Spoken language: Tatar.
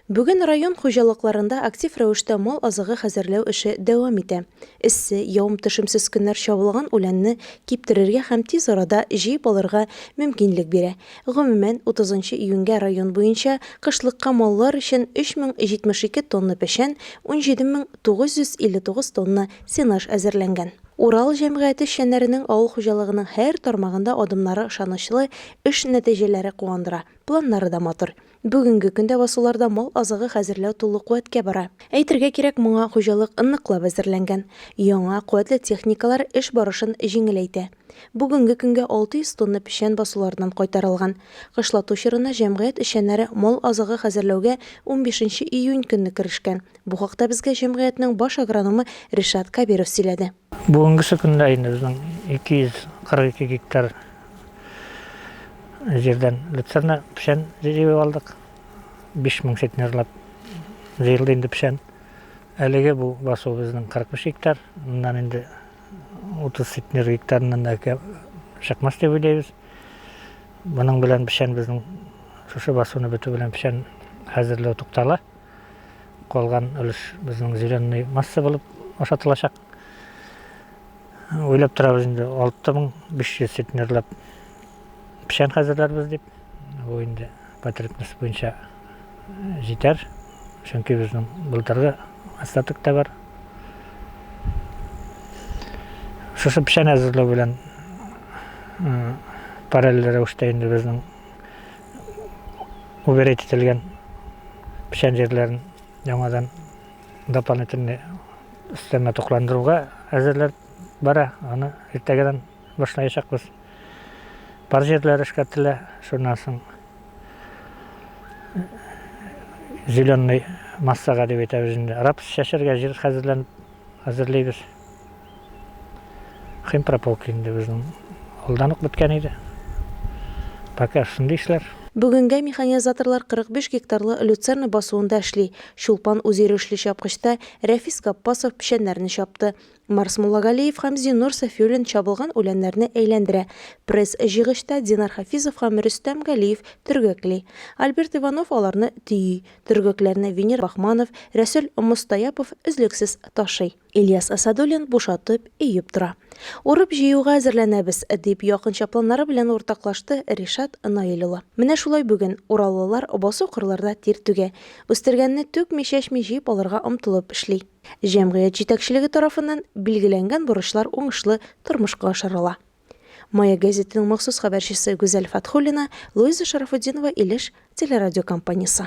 Бүген район хуҗалыкларында актив рәвештә мал азыгы хәзерләү эше дәвам итә. Эссе, явым-төшемсез көннәр чабылган үләнне киптерергә һәм тиз арада җыеп алырга мөмкинлек бирә. Гомумән, 30 нчы июньгә район буенча кышлыкка маллар өчен 3072 тонна печән, 17959 тонна сенаж әзерләнгән. Урал җәмгыяте эшчәннәренең авыл хуҗалыгының һәр тармагында адымнары ышанычлы, эш нәтиҗәләре куандыра, планнары да матур. Бүгенге көндә басуларда мал азыгы хәзерләү тулы куәткә бара. Әйтергә кирәк, моңа хуҗалык ныклап әзерләнгән. Яңа, куәтле техникалар эш барышын җиңеләйтә. Бүгенге көнгә 600 тонна печән басулардан кайтарылган. Кышлату чорына җәмгыять эшчәннәре мал азыгы хәзерләүгә унбиш нче июнь көнне керешкән. Бу хакта безгә җәмгыятьнең баш агрономы Ришат Кабиров сөйләде. Бүгенгесе көндә инде безнең 242 гектар җирдән люцерна печән җыеп алдык. 5000 центнерлап җыелды инде печән. Әлеге бу басу безнең 45 гектар. Моннан инде 30 центнер гектарыннан да чыкмас дип уйлыйбыз. Моның белән печән безнең шушы басуны бетү белән печән хәзерләү туктала. Калган өлеш безнең зеленый масса булып ашатылачак. Уйлап торабыз инде 6500 центнерлап печән хәзерләрбез дип. Бу инде потребность буенча җитәр. Чөнки безнең былтыргы остаток та бар. Шушы печән әзерләү белән параллель рәвештә инде безнең Уберить ителгән печән җирләрен яңадан дополнительный өстәмә тукландыруга әзерләр бара. Аны иртәгәдән башлаячакбыз. Пар җирләр эшкәртелә, шуннан соң зеленый массага дип әйтәбез инде. Рапс чәчәргә җир хәзерләнеп әзерлибез. Химпрополка инде безнең алдан ук беткән иде. Пока шундый эшләр. Бүгенгә механизаторлар 45 гектарлы люцерна басуында эшли. Чулпан үзйөрешле чапкычта, Рәфис Гаппасов печәннәрне чапты. Марс Муллагалиев һәм Зиннур Сафиуллин чабылган үләннәрне әйләндерә. Пресс җыйгычта Динар Хафизов һәм Рөстәм Галиев төргәкли. Альберт Иванов аларны төйи. Төргәкләрне Венер Бахманов, Рәсүл Мостаяпов өзлексез ташый. Ильяс Асадуллин бушатып, өеп тора. Урып-җыюга әзерләнәбез, дип якынча планнары белән уртаклашты Ришат Наил улы. Менә шулай бүген ураллылар басу-кырларда тир түгә, үстергәнне түкми-чәчми җыеп алырга омтылып эшли. Җәмгыять җитәкчелеге тарафыннан билгеләнгән бурычлар уңышлы тормышка ашырыла. Маяк гәзитенең махсус хәбәрчесе Гүзәл Фатхуллина, Луиза Шарафутдинова Илеш телерадиокомпаниясе.